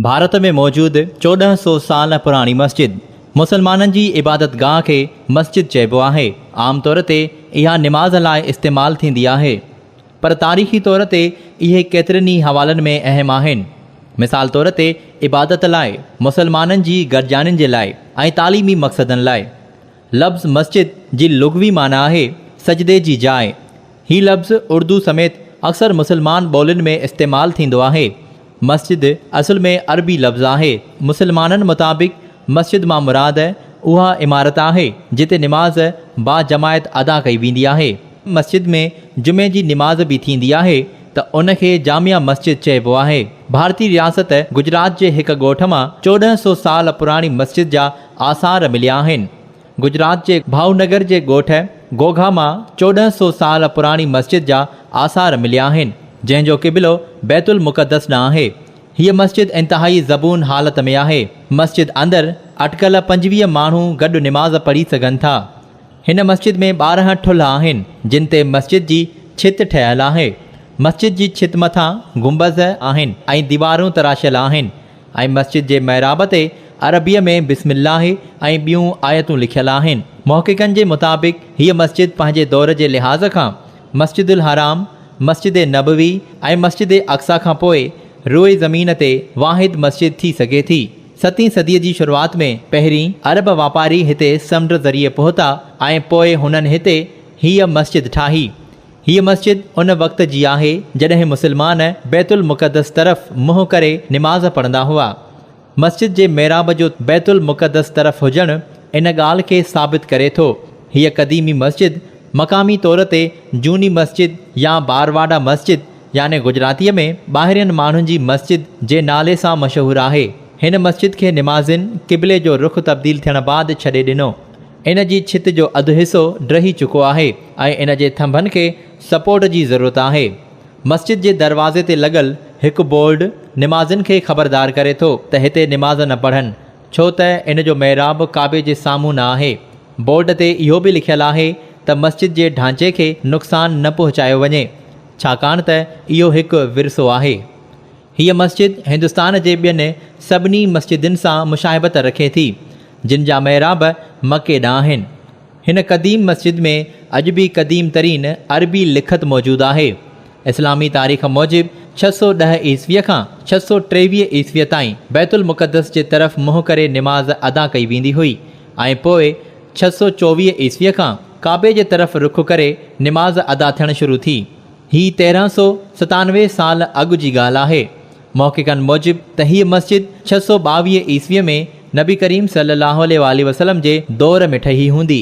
ڀارت ۾ موجود چوڏهن سو سال پراڻي مسجد، مسلمانن جي عبادت گاهه کي مسجد چئبو آهي، عام طور تي اها نماز لاء استعمال ٿيندي آهي. پر تاريخي طور تي اهي ڪيترن ئي حوالن ۾ اهم آهن. مثال طور تي عبادت لاء، مسلمانن جي گڏجاڻين جي لاء ۽ تعليمي مقصدن لاء. لفظ مسجد جي لغوي معنيٰ آهي سجدي جي جاء. هي لفظ اردو سميت اڪثر مسلمان ٻولين ۾ استعمال ٿيندو آهي. مسجد اصل ۾ عربي لفظ آهي. مسلمانن مطابق مسجد مان مراد اها عمارت آهي جتي نماز با جماعت ادا ڪئي ويندي آهي. مسجد ۾ جمعي جي نماز به ٿيندي آهي ته ان کي جامع مسجد چئبو آهي. ڀارتي رياست گجرات جي هڪ ڳوٺ مان چوڏهن سو سال پراڻي مسجد جا آثار مليا آهن. گجرات جي ڀائونگر جي ڳوٺ گوگها مان چوڏهن سؤ سال پراڻي مسجد جا آثار مليا آهن، جنهن جو قبلو بيت المقدس ڏانهن آهي. هيء مسجد انتهائي زبون حالت ۾ آهي. مسجد اندر اٽڪل پنجويهه ماڻهو گڏ نماز پڙهي سگهن ٿا. هن مسجد ۾ ٻارهن ٺلها آهن، جن تي مسجد جي ڇت ٺهيل آهي. مسجد جي ڇت مٿان گنبذ آهن ۽ ديوارون تراشيل آهن. ۽ مسجد جي محراب تي عربيء ۾ بسم الله ۽ ٻيون آيتون لکيل آهن. محققن جي مطابق هيء مسجد پنهنجي دور جي لحاظ کان مسجد الحرام، مسجد نبوي ۽ مسجد اقصيٰ کان پوء روئي زمين تي واحد مسجد ٿي سگهي ٿي. ستين صديء جي شروعات ۾ پهرين عرب واپاري هتي سمنڊ ذريعي پهتا ۽ پوء هنن هتي هيء مسجد ٺاهي. هيء مسجد ان وقت جي آهي جڏهن مسلمان بيت المقدس طرف منهن ڪري نماز پڙهندا هئا. مسجد جي محراب جو بيت المقدس طرف هجڻ ان ڳالهه کي ثابت ڪري ٿو. هيء قديمي مسجد مقامي طور تي جوني مسجد يا بارواڊا مسجد يعني گجراتيء ۾ ٻاهرين ماڻهن جي مسجد جي نالي سان مشهور آهي. هن مسجد کي نمازين قبلي جو رخ تبديل ٿيڻ بعد ڇڏي ڏنو. ان جي ڇت جو اڌ حصو ڊهي چڪو آهي ۽ ان جي ٿنڀن کي سپورٽ جي ضرورت آهي. مسجد جي دروازي تي لڳل هڪ بورڊ نمازين کي خبردار ڪري ٿو ته هتي نماز نه پڙهن ڇو ته ان جو محراب ڪعبي جي سامهون نه آهي. بورڊ تي اهو به لکيل آهي ته مسجد جي ڍانچي کي نقصان نه پهچايو وڃي ڇاڪاڻ ته اهو هڪ ورثو آهي. هيء مسجد هندستان جي ٻين سڀني مسجدن سان مشاهبت رکي ٿي، جن جا محراب مڪي ڏانهن آهن. هن قديم مسجد ۾ اڄ به قديم ترين عربي لکت موجود آهي. اسلامي تاريخ موجب ڇهه سؤ ڏهه عيسويء کان ڇهه سؤ ٽيويهه عيسويء تائين بيت المقدس جي طرف منهن ڪري نماز ادا ڪئي ويندي هئي ۽ پوء ڇهه سؤ چوويهه عيسويء کان ڪعبي جي طرف رخ ڪري نماز ادا ٿيڻ شروع ٿي. هي تيرهن سؤ ستانوي سال اڳ جي ڳالهه آهي. محققن موجب ته هيء مسجد ڇهه سؤ ٻاويهه عيسويء ۾ نبي ڪريم صلي الله عليه واٰله وسلم جي دور ۾ ٺهي هوندي.